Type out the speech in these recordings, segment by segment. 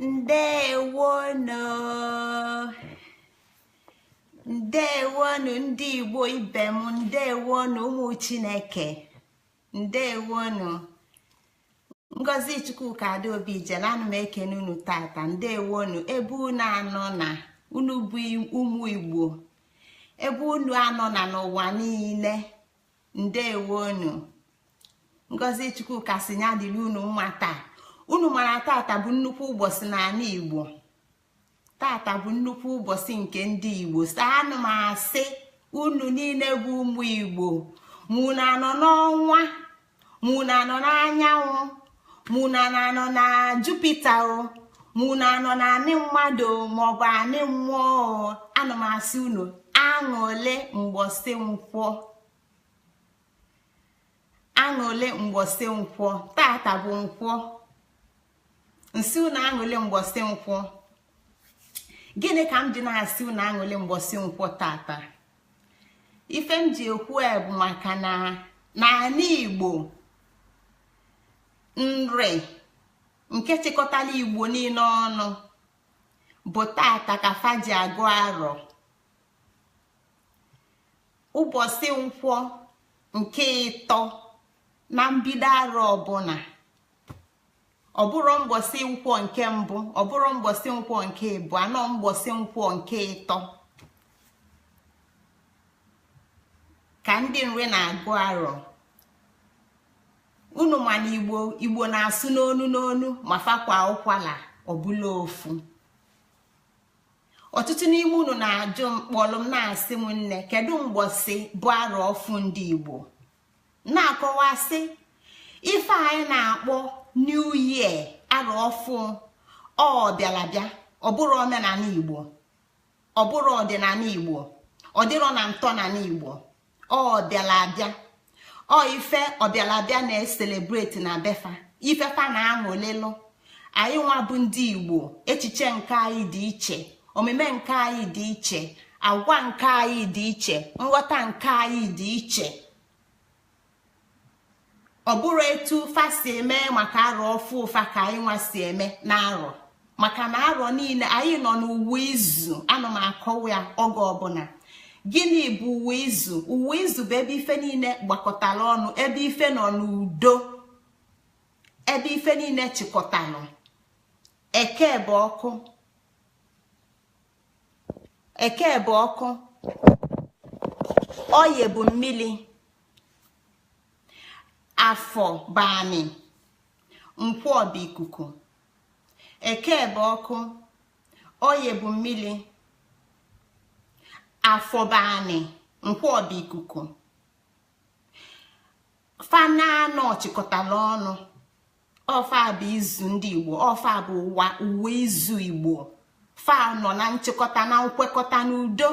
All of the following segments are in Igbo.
ndewonu ndewonu ndị igbo ibe m ndewonu ụmụ chineke ndewonu ngozi chukwuka adaobijele ana m ekene unu tata ndewonu ebe unu anọna unu bụ ụmụ igbo ebe unu anọna n'ụwa niile ndewonu ngozi chukwuka sị ya dịlị unu mma taa unu mara tata bụ nnukwu ụbọsị n'anị igbo tata bụ nnukwu ụbọsị nke ndị igbo so ana m asị unu niine bụ ụmụ igbo ma unu anọ n'ọnwa ma unu anọ n'anyanwụ ma unu anọ na jupiter o ma unu anọ na anị mmadụ maọbụ anị mmụọ ana m asị unu aṅụlị mgbọsị nkwọ aṅụlị mgbọsị nkwọ tata bụ nkwọ m sị unu aṅụlị mgbọsị nkwọ gịnị ka m ji na-asị unu aṅụlị mgbọsị nkwọ tata ife m ji ekwu ya bụ maka na n'anị igbo nri nke chịkọtalụ igbo niine ọnụ bụ tata ka fa ji agụ arọ ụbọsị nkwọ nke ịtọ na mbido arọ ọbụla ọ bụrọ mgbọsị nkwọ nke mbụ ọ bụrọ mgbọsị nkwọ nke ịbụa ọ mgbọsị nkwọ nke ịtọ ka ndị nri na-agụ arọ unu ma na igbo igbo na-asụ n'onu n'onu ma fa kwaa ụkwala ọ bụlụ ofu ọtụtụ n'ime unu na-ajụ m kpọlụ m na-asị m nne kedu mgbọsị bụ arọ ọfụụ ndị igbo na-akọwa sị ife anyị na-akpọ new year arọ ọfụụ ọ bịala abịa ọ bụrọ omenanị igbo ọ bụrọ ọdịnanị igbo ọ dịrọ na ntọnanị igbo ọ bịala abịa ọ ife ọbịala abịa na-ecelebrate na befa ife fa na-aṅụlịlụ anyị nwa bụ ndị igbo echiche nke anyị dị iche omume nke anyị dị iche agwa nke anyị dị iche nghọta nke anyị dị iche ọ bụrọ etu fa si eme maka arọ ọfụụ fa ka anyị nwa si eme na arọ maka na arọ niine anyị nọ n'ụwa izu ana m akọwa ya oge ọbụla gịnị bụ ụwa izu ụwa izu bụ ebe ife niine gbakọtara ọnụ ebe ife nọ n'udo ebe ife niine chịkọtara ọnụ eke bụ ọkụ oye bụ mmili afọ bụ anị nkwọ bụ ikuku eke bụ ọkụ oye bụ mmili afọ bụ anị nkwọ bụ ikuku fa n'anọ chịkọtala ọnụ ọ fa bụ izu ndị igbo ọ fa bụ ụwa izu igbo fa nọ na nchịkọta na nkwekọta n'udo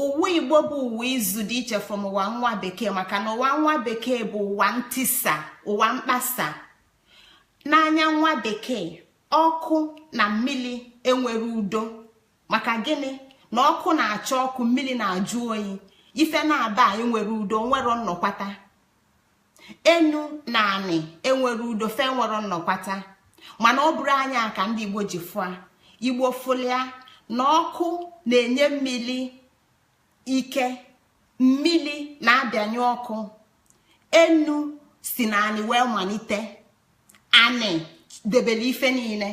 ụwa igbo bụ ụwa izu dị iche from ụwa nwa bekee maka na ụwa nwa bekee bụ ụwa ntisa ụwa mkpasa n'anya nwa bekee ọkụ na mmili enwerọ udo maka gịnị na ọkụ na-acha ọkụ mmili na-ajụ oyi ife naabọ a enwerọ udo enwerọ nnọkwata enu na anị enwerọ udo fa enwerọ nnọkwata mana ọ bụrọ anya ka ndị igbo ji fụ ya igbo fụlụ ya na ọkụ na-enye mmili ike mmili na-abịanye ọkụ enu si na anị wee malite anị debere ife niine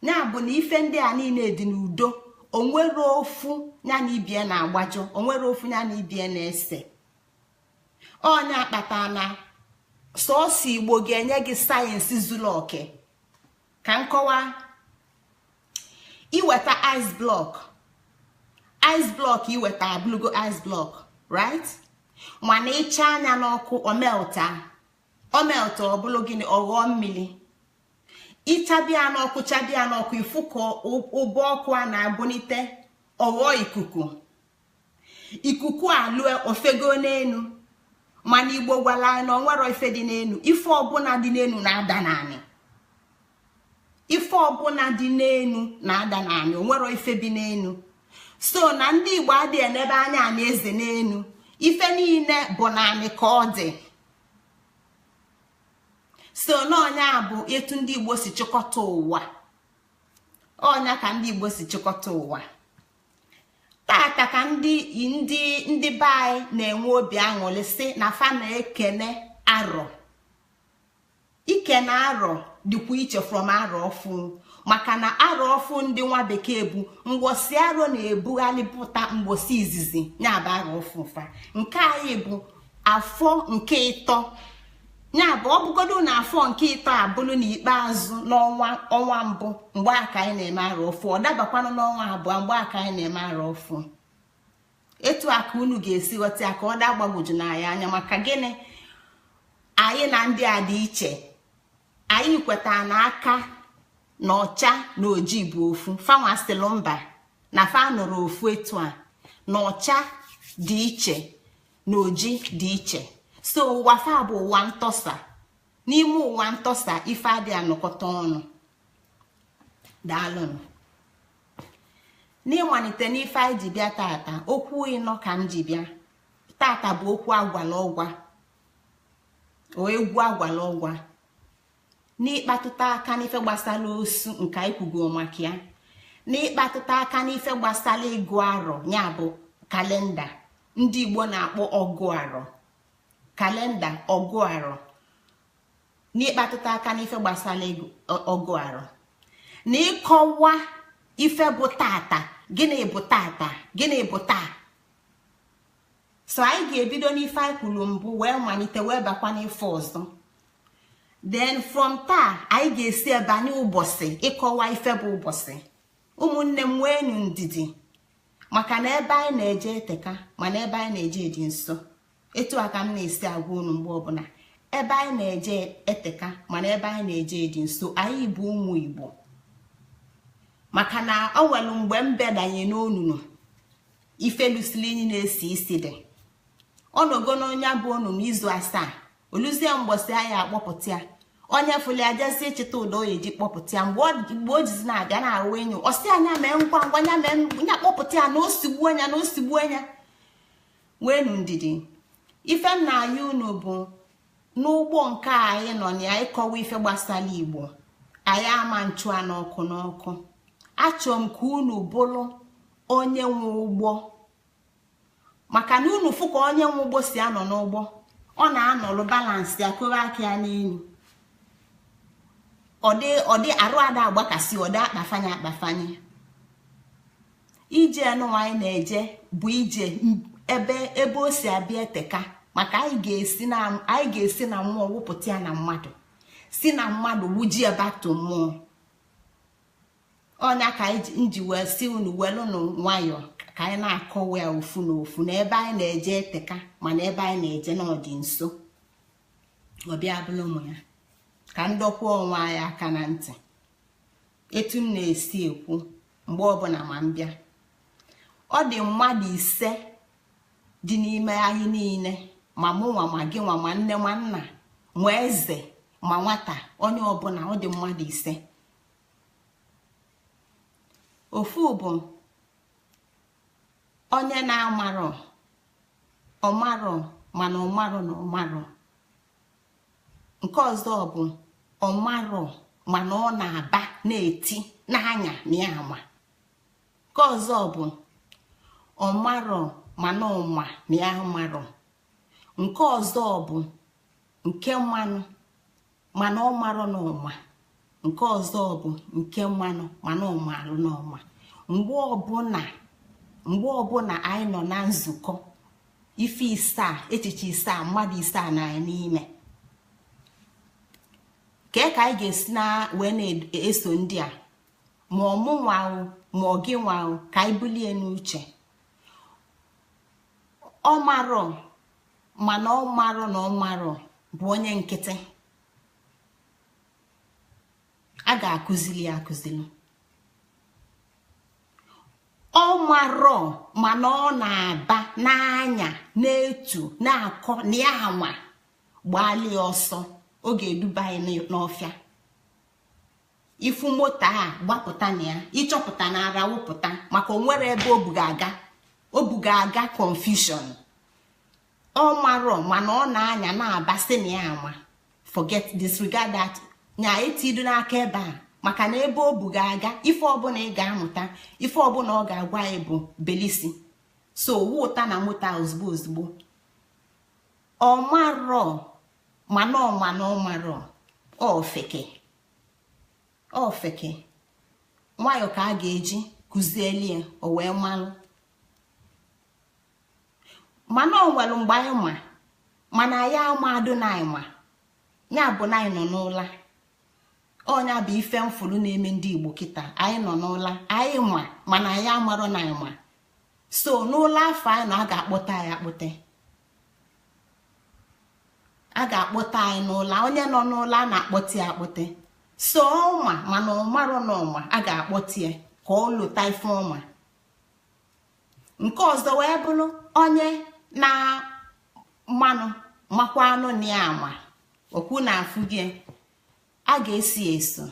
ya bụ na ife ndị a niine dị n'udo o nwerọ ofu ya na ibie na-agbajọ o nwerọ ofu ya na ibie na-ese ọ nya kpata na sọsọ igbo ga-enye gị science zuru oke ka m kọwaa iweta ice block ice block iweta abụlugo ice block right mana ị chaa nya n'ọkụ ọ melt ọ melt ọ bụlụ gịnị ọ ghọọ mmili ị chaba ya n'ọkụ chaba ya n'ọkụ ị fụ ka ụbọ ọkụ a na-ebunite ọ ghọọ ikuku ikuku alue o fego n'enu mana igbo gwara anyị na o nwerọ ife dị n'enu ife ọbụla dị n'enu na-ada n'anị ife ọbụla dị n'enu na-ada n'anị o nwerọ ife bi n'enu so na ndị igbo adịghị enebe anya anyị eze n'enu ife niine bụ n'anị ka ọ dị so na ọ nya bụ etu ndị igbo si chịkọta ụwa ọ nya ka ndị igbo si chịkọta ụwa tata ka ndị ndị ndị be anyị na-enwe obi aṅụlị sị na fa na-ekene arọ ikene arọ dịkwa iche from arọ ọfụ maka na arọ ọfụ ndị nwa bekee bụ mgbọsị arọ na-ebughalị pụta mgbọsị izizi ya bụ arọ ọfụ fa nke anyị bụ afọ nke ịtọ ya bụ ọ bụgodu na afọ nke ịtọ a bụlụ na ikpeazụ n'ọnwa ọnwa mbụ mgbe a ka anyị na-eme arọ ọfụ ọ dabakwanụ n'ọnwa abụọ mgbe a ka anyị na-eme arọ ọfụ etu a ka unu ga-esi ghọta ya ka ọ daa gbagwoju na anyị anya maka gịnị anyị na ndị a dị iche anyị kweta na-aka na ọcha na oji bụ ofu fa nwa sịlị mba na fa nụrụ ofu etu a na ọcha dị iche na oji dị iche so ụwa fa bụ ụwa ntọsa n'ime ụwa ntọsa ife adị anọkọta ọnụ daalụnụ n'ịmalite n'ife anyị ji bịa tata okwu ịnọ ka m ji bịa tata bụ okwu agwalụ ọgwa okwu agwalụ ọgwa n'ịkpatụta aka n'ife gbasalụ osu nke anyị kwugo maka ya n'ịkpatụta aka n'ife gbasalụ ịgụ arọ ya bụ kalenda ndị igbo na-akpọ ọgụ arọ kalenda ọgụ arọ n'ịkpatụta aka n'ife gbasalụ ọgụ arọ na ịkọwa ife bụ tata gịnị bụ tata gịnị bụ taa so anyị ga-ebido n'ife anyị kwulu mbụ wee malite wee bakwa n'ife ọzọ then from taa anyị ga-esi ebanye ụbọsị ịkọwa ife bụ ụbọsị ụmụnne m nweenu ndidi maka na ebe anyị na-eje eteka mana ebe anyị na-eje dị nso etu a ka m na-esi agwa unu mgbe ọbụla ebe anyị na-eje eteka mana ebe anyị na-eje dị nso anyị bụ ụmụ igbo maka na o nwelu mgbe mbe danye n'onunu ife lụsịlị inyi na-esi isi dị ọ nọgo na nya bụ onunu izu asaa o luzie mgbọsị a ya-akpọpụta ya onye fụlụ ya jezi ịchịta ụdọ ọ ya-eji kpọpụta ya mgbe o jizi na-abịa na nwayọọ ọ sị ya nya mee ngwa ngwa nya mee nya kpọpụta ya na o sigbuo nya na o sigbuo nya nweenu ndidi ife m na-ayọ unu bụ n'ụgbọ nke anyị nọ na ya ịkọwa ife gbasalụ igbo anyị ama na-achụ ya n'ọkụ n'ọkụ achọlụ m ka unu bụlụ onye nwe ụgbọ maka na unu fụ ka onye nwe ụgbọ si anọ n'ụgbọ ọ na-anọlụ balansị ya koba aka ya n'enu ọ dị arụ ada agbakasị ọ dị akpafanye akpafanye ije anụnwa anyị na-eje bụ ije ebe ebe o si abịa eteka maka anyị ga-esi na mmụọ wụpụta ya na mmadụ si na mmadụ wụji ya back to mmụọ ọ nya ka m ji wee sị unu welụnụ nwayọọ ka anyị na-akọwa ya ofu na ofu na ebe anyị na-eje eteka mana ebe anyị na-eje na ọ dị nso ọbịa bụla ụmụ ya ka m dọkwa onwe anyị aka na ntị etu m na-esi ekwu mgbe ọbụla ma m bịa ọ dị mmadụ ise dị n'ime anyị niile ma mụnwa ma gịnwa ma nne ma nna ma eze ma nwata onye ọbụla ọ dị mmadụ ise ofu bụ onye na-amarọ ọ marọ mana ọ marọ na ọ marọ nke ọzọ bụ ọ marọ mana ọ na-aba na-eti n'anya na ya ama nke ọzọ bụ ọ marọ mana ọ ma na ya amarọ nke ọzọ bụ nke manụ mana ọ marọ na ọ ma nke ọzọ bụ nke manụ mana ọ maalụ na ọ ma mgbe ọbụla mgbe ọbụla anyị nọ na nzukọ ife isaa echiche isaa mmadụ isaa nọ n'ime kee ka anyị ga-esi na wee na-eso ndị a ma ọ mụnwa o ma ọ gịnwa o ka anyị bulu ya n'uche ọ marọ mana ọ marọ na ọ marọ bụ onye nkịtị a ga-akụzili ya akụzili ọ marọ mana ọ na-aba n'anya na-etu na-akọ na ya ama gbaalụ ya ọsọ ọ ga-eduba anyị n'ọfịa ị fụ moto a gbapụta na ya ị chọpụta na ara wụpụta maka o nwere ebe o bu gị aga o bu gị aga confusion ọ marọ mana ọ na-anya na-abasị na ya ama forget disregard that nya etidu n'aka ebe a maka na ebe o bu gị aga ife ọbụla ị ga-amụta ife ọbụla ọ ga-agwa anyị bụ belisi so wọta na mụta ozugbo ozugbo ọ marọ mana ọ ma na ọ marọ ofeke ofeke nwayọ ka a ga-eji kụzieli ya o wee malụ mana ọ nwelụ mgbe anyị ma mana anyị amadụ na anyị ma ya bụ na anyị nọ n'ụla ọ nya bụ ife m fụlụ na-eme ndị igbo kịta anyị nọ n'ụla anyị ma mana anyị amarọ na anyị ma so n'ụla afụ anyị nọ a ga-akpọte anyị akpọte a ga-akpọte anyị n'ụla onye nọ n'ụla a na-akpọte ya akpọte so ọ ma mana ọ marọ na ọ ma a ga-akpọte ya ka o lota ife ọ ma nke ọzọ wee bụlụ onye na manụ makwanụ na ya ma okwu na afụ bụ a ga-eso eso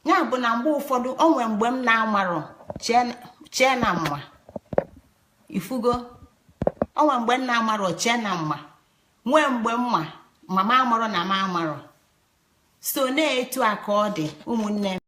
ya bụ na mgbe ụfọdụ o nwee mgbe m na-amarọ chee na m ma ị fụgo o nwee mgbe m na-amarọ chee na m ma nwee mgbe m ma ma m amarọ na m amarọ so na etu a ka ọ dị ụmụnne m